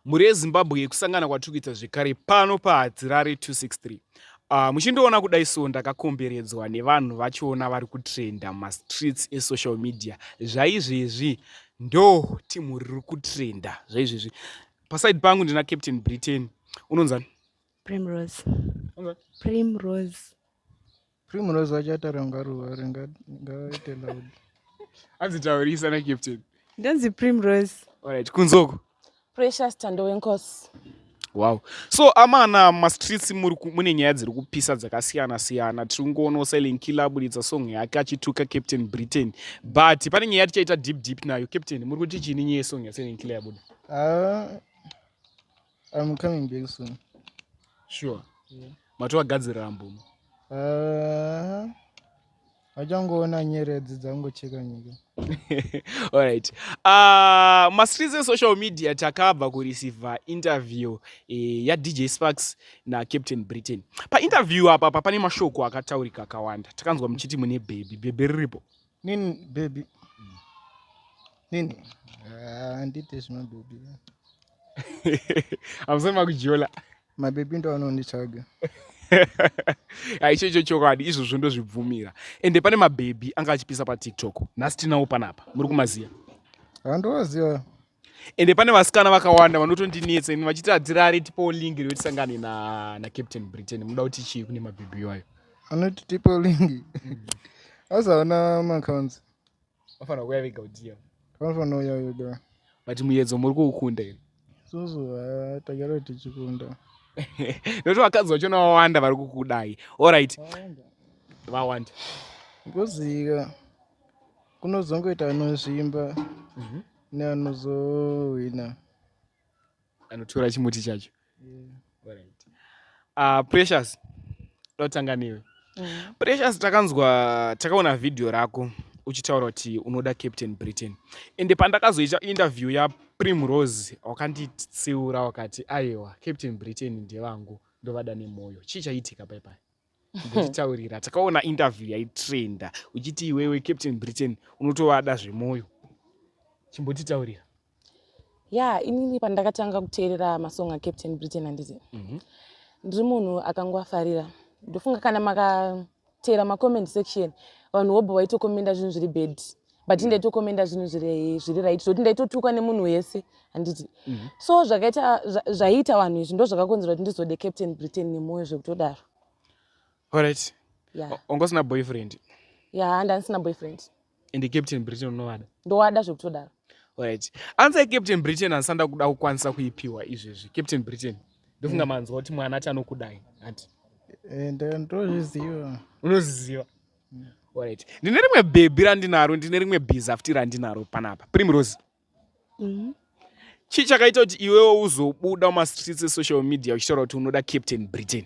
Mhuri yeZimbabwe yekusangana kwatiri kuita zvekare pano paHadzirare 263. Uh, muchindiona kudai so ndakakomberedzwa nevanhu vachiona vari kutrenda mumastreets esocial media zvaizvezvi ndo timu riri kutrenda zvaizvezvi paside pangu ndina captain britain unonzani primrose primrose Primrose wacho ataura ngaruva ngaite loud. Hanzi taurisa na captain. Ndanzi Primrose. Alright, kunzoko. Precious Tando wenkosi. Wow. So amana mastreets muri mune nyaya dziri kupisa dzakasiyana siyana. Tiri kungoona Silent Killer aburitsa song yake achituka Captain Britain. But pane nyaya tichaita deep deep nayo. Captain, muri kuti chini nyaya song ya Silent Killer yabuda? Ah, I'm coming back soon. Sure. Yeah. Matowagadzirira mbumo. Uh, vachangoona nyeredzi dzangocheka nyika. Alright. Uh, mastreets esocial media takabva kureceiva interview eh, yaDJ Sparks naCaptain Britain. Painterview apa pa pane mashoko akataurika akawanda. Takanzwa muchiti mune bhebhi. Bhebhi riripo? Nini baby. Nini. Ah, ndite zvima baby. Amusema kujola. Ma baby ndo anonditsvaga. Aicho icho chokwadi izvozvo ndozvibvumira. Ende pane ma baby anga achipisa pa TikTok. Nhasi tinawo panapa. Muri kumaziya? Handoziya. ende pane vasikana vakawanda vanotondinetsa ini vachiti hadzirare tipewo lingi rekuti sangane na, na captain britain munoda kuti chii kune mabhibhi iwayo anoti tipewo lingi asi havana macounts vafanira kuuya vega kudiya vanofanira uya vega but muyedzo muri kuukunda here susu ha tagara tichikunda nokuti vakadzi vachona vawanda vari kukudai allright vawanda ngozika kunozongoita anozvimba mhm. neanozohwina anotora chimuti chacho ah, precious ndotanga newe mhm. precious takanzwa takaona vhidhiyo rako uchitaura kuti unoda captain britain ende pandakazoita interview yaprimrose wakanditsiura wakati aiwa captain britain ndevangu ndovada nemwoyo chii chaiitika paipai ndititaurira takaona interview yaitrenda uchiti iwewe captain britain unotovada zvemwoyo chimbotitaurira ya yeah, inini pandakatanga kuteerera masong acaptain britain anditi mm -hmm. ndiri munhu akangoafarira ndofunga kana makateera macoment section vanhu wobva waitokomenda zvinhu zviri bad but mm. ndaitokomenda zvinhu zviri zviri right zvoti ndaitotukwa nemunhu wese handiti mm -hmm. so zvakaita zvaiita vanhu izvi ndo zvakakonzera kuti ndizode captain britain nemwoyo zvekutodaro orit yeah. ongosina boyfriend ya yeah, ndandisina boyfriend and captain britain unovada ndowada zvekutodaro orit answer captain britain handisanda kuda kukwanisa kuipiwa izvezvi captain britain ndofunga mm. manzwa kuti mwana ati anokudai hanti eh, ndozviziva unoziziva Alright. Ndine rimwe bhebhi randinaro, ndine rimwe bhizafuti randinaro panapa. Primrose. Mm. Chii chakaita kuti iwewo uzobuda mumastreets esocial media uchitaura kuti unoda Captain Britain?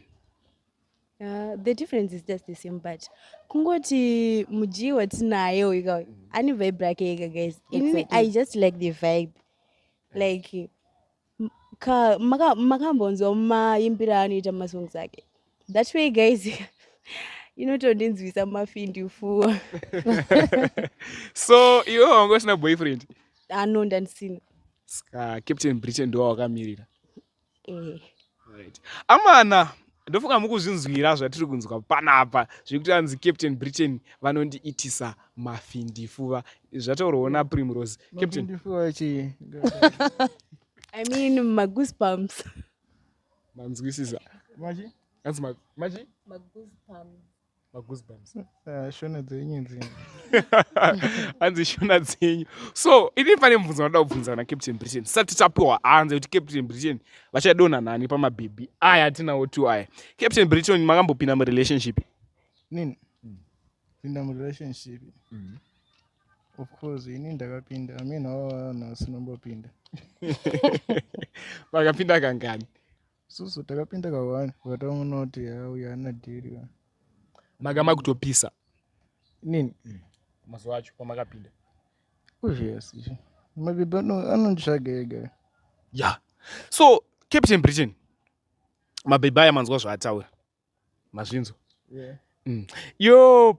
Uh, the difference is just the same but kungoti mudyi watinaye uyu kauyu ane vibe rake ega guys inini exactly. i just like the vibe like makambonzwa maimbira anoita masongs ake that way guys inotondinzwisa mafindi ufuwa so iwe wanga usina boyfriend ano ah, ndandisina ska captain britain ndowa wakamirira eh. amana ndofunga mukuzvinzwira zvatiri kunzwa panapa zvekuti anzi captain britain vanondiitisa mafindifuva zvataurwawo naprimrose i mean magoosebumps manzwisisa machi anzi machi magoosebumps Ah, shona dzenyu dzenyu hanzi shona dzenyu so ini pane mubvunzo vanoda kubvunza na captain britain sati tapiwa hanzi kuti captain britain vachadonha nani pamabhibhi aya atinawo two aya captain britain makambopinda murelationship nini pinda murelationship mm-hmm. of course ini ndakapinda amina wavanhu asinombopinda vakapinda kangani susu takapinda kawani vakataona kuti uyu ana dhiri manga makutopisa nini mm. mazuva acho pamakapinda yes mabibi anonditsvaga ega ya so captain britain mabhebhi aya manzwa zvaataura mazvinzwa yeah. mm. yo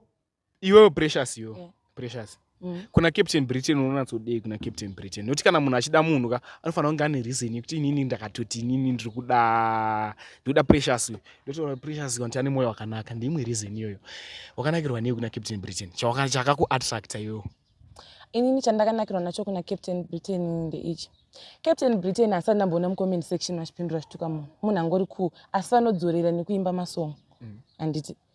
iwewe precious yo yeah. precious Mm. kuna captain britain unonatsodei kuna captain britain nokuti kana munhu achida munhu ka anofanira kunge ane reason yekuti inini ndakatoti inini ndiri kuda ndikuda precious uyu ndotaura precious kanti ane mwoyo wakanaka ndeimwe reason iyoyo wakanakirwa nei kuna captain britain chakakuattracta iyoyo inini chandakanakirwa nacho kuna captain britain ndeichi captain britain asati ndamboona mucomment section vachipindura zvituka munhu munhu angori cool asi vanodzorera nekuimba masong mm. handiti mm.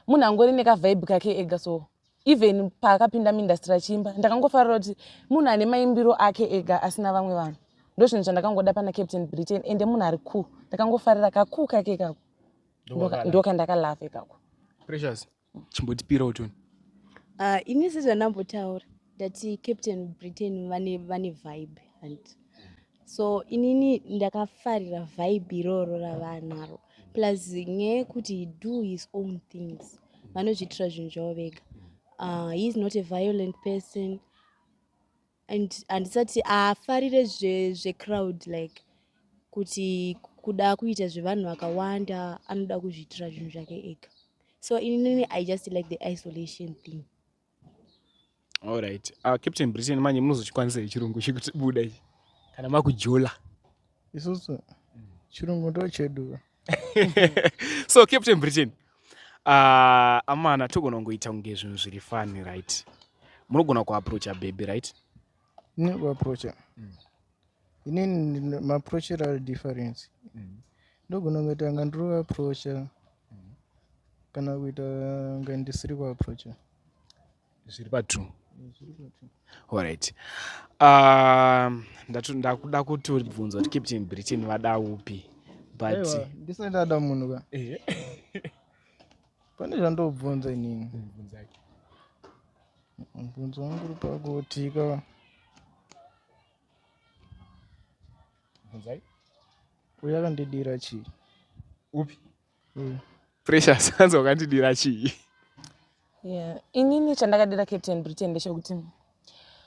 munhu angori nekavibe kake ega so even paakapinda muindastry achiimba ndakangofarira kuti munhu ane maimbiro ake ega asina vamwe vanhu ndo zvinhu zvandakangoda pana captain britain ende munhu ari cool ndakangofarira kakuu kake ikako ndokandakalave ikako precious chimbotipirawo tuni ah, ini sezvandambotaura ndati captain britain vane vibe and so inini ndakafarira vibe iroro ravanaro plus nyaya yekuti he do his own things vanozviitira zvinhu zvavo vega uh, he is not a violent person and handisati afarire zvecrowd zve like kuti kuda kuita zvevanhu vakawanda anoda kuzviitira zvinhu zvake ega so inini i just like the isolation thing Alright. Uh, Captain Britain manje munozochikwanisa chirungu chekuti buda ichi. Kana makujola. Isusu chirungu ndo chedu. so Captain Britain uh, ah, amana togona kungoita kunge zvinhu zviri fani right. Munogona kuaproacha baby right. ne kuaproacha mm. inini maproachero ari difference mm. ndogona kuita nga ndiri kuaproacha mm. kana kuita nga ndisiri kuaproacha zviri patrue Alright. Um, ndakuda kuti uribvunza kuti Captain Britain vada upi but ndisati ada munhu ka Pane zvandobvunza inini. Bvunzake. Mubvunzo wangu uri pakuti ka Bvunzai. uya akandidira chii? Upi? Uyu. Precious hanzi wakandidira chii? Yeah. Inini chandakadira Captain Britain ndechekuti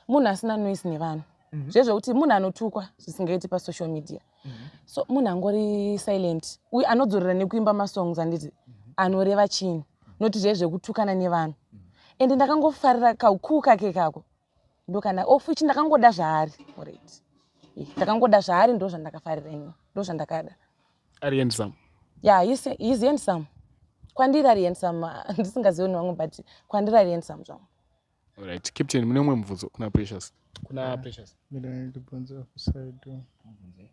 munhu asina noise nevanhu mm -hmm. zvezvekuti munhu anotukwa zvisingaiti pasocial media mm -hmm. so munhu angori silent uye anodzorera nekuimba masongs anditi mm -hmm. anoreva chini noti zve zvekutukana nevanhu mm -hmm. ende ndakangofarira kaukuu kake kako ndokana ofu ichi ndakangoda zvaari orit eh, ndakangoda zvaari ndo zvandakafarira ini ndo zvandakada ari handsome ya yeah, he's handsome kwandiri ari handsome ndisingazioni vamwe but kwandiri ari handsome zvangu Alright, Captain, mune umwe mubvunzo kuna Precious. Kuna ah, Precious. Mira ndibvunze apo side. Mubvunze.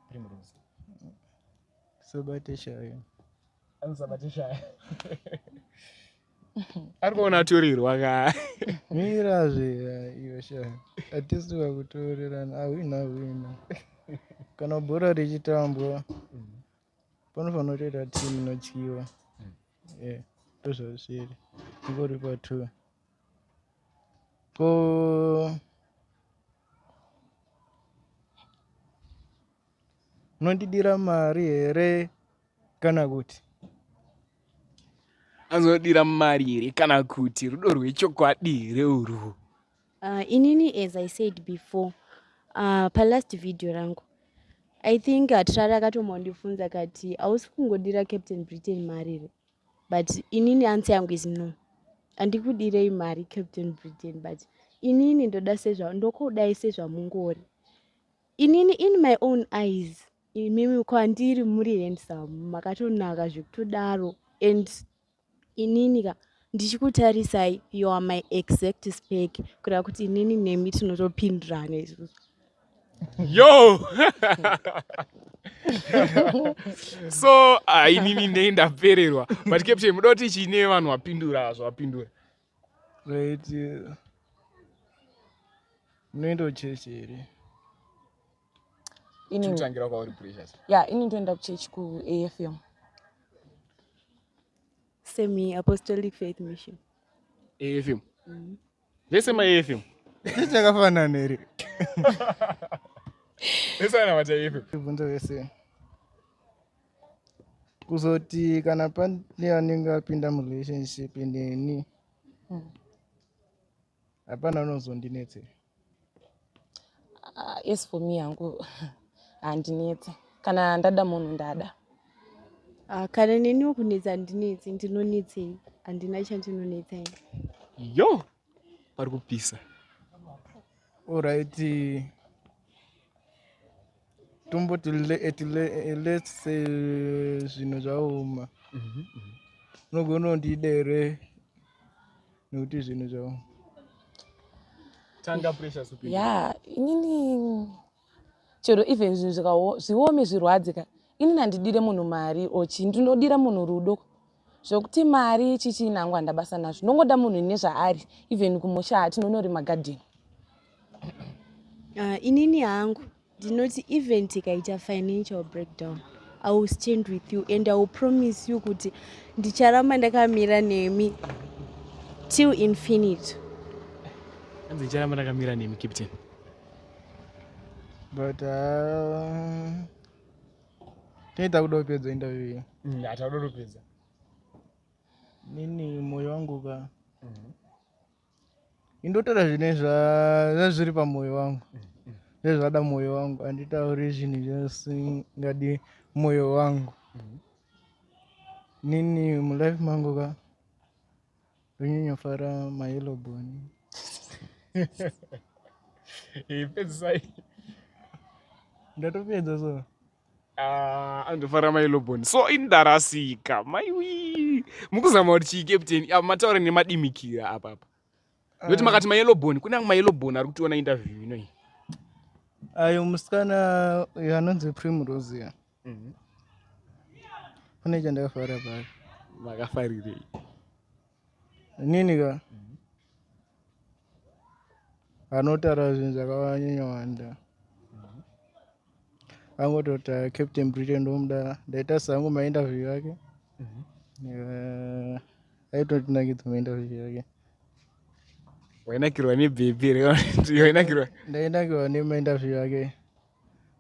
Primrose. Sabate shayo. Ano sabate shayo. Ari kuona aturirwa ka. Mira zve iyo shayo. Atisi vakutorerana awina awina. Kana bhora richitambwa. Mm -hmm. panofanira kutoita team inotyiwa yeah ndozvazviri ingori pa two ko unondidira mari here kana kuti anodira mari here kana kuti rudo rwechokwadi here urwu Uh, inini as I said before uh, pa last video rangu I think hatirari uh, akatomwandifunza kati hausi kungodira Captain Britain mari here but inini answer yangu is no handikudirei mari Captain Britain but inini ndoda sezva ndokudai sezvamungori inini in my own eyes imimi kwandiri muri handsome makatonaka zvekutodaro and inini ka ndichikutarisai you are my exact spec kureva kuti inini nemi tinotopindirana izvozvo yo so ah, inini nei ndapererwa but captain muda kuti chiine vanhu vapindura zvavapindura right munoenda uchechi here Ini tangira kwauri precious. Yeah, ini ndoenda kuchechi ku AFM. Semi Apostolic Faith Mission. AFM. Mm. Vese ma AFM. Chichi chakafanana here? Vese ana mata AFM. Vibvunzo vese. Kuzoti kana pane anenge apinda mu relationship neni. Mm. hapana unozondinetse uh, as for me hangu handinetse kana ndada munhu ndada uh, kana neniwo kunetsa handinetse ndinonetsei handina chandinonetsa ini yo pari kupisa orighti tomboti let's say zvinhu zvaoma mhm, mhm. unogona kundidere nekuti zvinhu zvavo tanga pressure supi ya inini chero even zvinhu zvikawo zviome zvirwadze ka inini handidire munhu mari or chii ndinodira munhu rudo zvekuti mari chichii nangu handabasa nazvo ndongoda munhu ine zvaari even kumusha tinonorima garden uh, inini hangu ndinoti even tikaita financial breakdown i will stand with you and i will promise you kuti ndicharamba ndakamira nemi till infinite hanzi ndicharamba ndakamira nemi captain but uh, tinoita kuda kupedza interview iyi mm, hatakuda kupedza nini moyo wangu ka mm -hmm. indotaura zvine zvazviri pamoyo wangu zvezvada moyo wangu handitauri zvinhu zvasingadi moyo wangu nini mulife mangu ka ndonyanyofara mayeloboni ipedzisai ndatopedza so Ah, andofara mai lobon so indarasika maiwi mukuzama kuti chii captain ah, mataura nemadimikira apapa nokuti ah. makati mayelobon kune amwe mayelobon ari kutiona interview inoi ayo musikana uyo anonzi primrose mhm. kune chandakafara paa makafarirei Inini ka anotaura zvinhu zvakanyanya wanda angototi ah, captain britain ndomuda ndaita sangu mainterview yake Eh, aitotinakidza mainterview yake wainakirwa nebp wainakirwa ndainakirwa nemainterview yake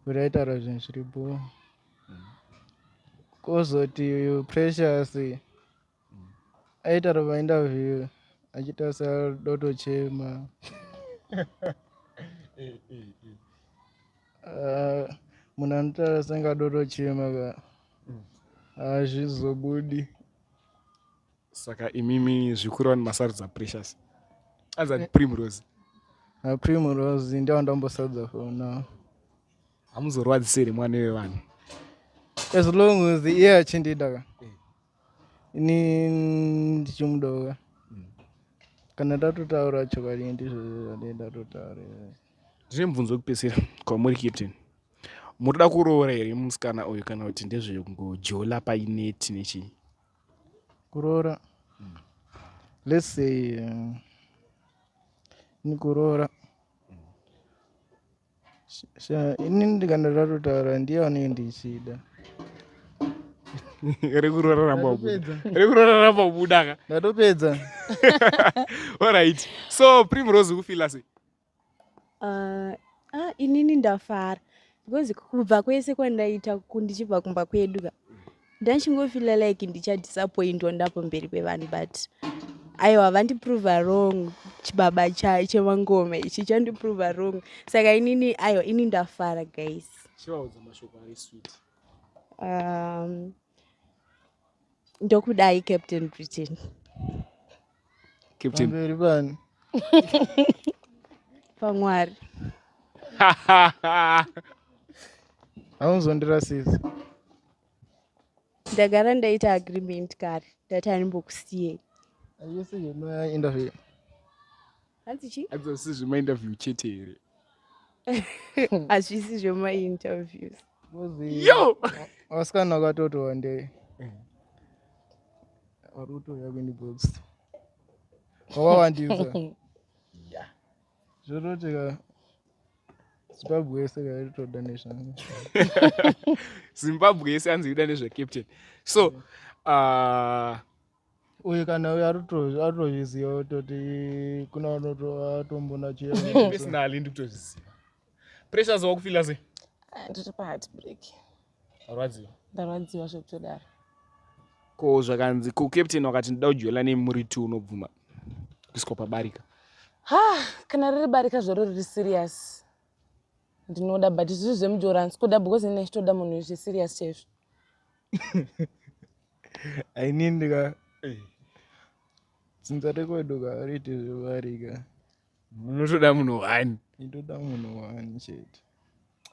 kuti aitaura zvinhu zviripo kozoti precious aita rova interview achitarisa doto chema Ah, munhu anotaura senge adoto chema ka hazvizobudi saka imimi zvikuru vanhu masarudza precious azati primrose aprimrose ndiyo ndambosadza for now hamuzorwadziseri mwana wevanhu as long as iye achindida ka ini ndichimudova kana tatotaura chokwadi ndizvo zvandee ndatotaura ndine mubvunzo wekupedzisira kwamuri captain munoda kuroora here musikana uyu kana kuti ndezvekungojola paineti nechii kuroora mm. let's say uh, ni kuroora ini ndikana ratotaura ndiye anenge ndichida rekuroraramba ubudaka ndatopedza orit so primrose ukufila sei ah, ah, inini ndafara because kubva kwese kwandaita kundichibva kumba kwedu ka Ndachingofila like ndichadisappointwa ndapo mberi pevanhu but aiwa vandiprove wrong chibaba cha chemangoma ichi chandiprove wrong saka inini aiwa ini ndafara guys chivaudza mashoko ari sweet um ndokudai captain britain pamberi pani pamwari haunzondirasisa ndagara ndaita agreement kare ndati animbokusiyei ayese yema interview hanzi chii hazvisi zvemainterview chete here hazvisi zvemainterviews yo vasikana vakatoti wandei vari kutouya kwenibox wawawandisa zvoroti ka zimbabwe yese kaitoda nezvangu zimbabwe yese anzi ida nezvacaptain so uh, uyu kana uyu arikutozviziva kutoti kuna anotombona chepersonally ndikutozviziva pressures wakufila se ah, ndiri paheart break arwadziwa ndarwadziwa zvekutodaro ko zvakanzi ko captain wakati ndida kujoela nei muri two unobvuma kuiswa pabarika ha kana riri barika zvaro riri serious ndinoda but zviri zvemujoransi kuda because ine chitoda munhu zve serious chaizvo ainini ka dzinza rekwedu ka riti zvivarika munotoda munhu one itoda munhu one chete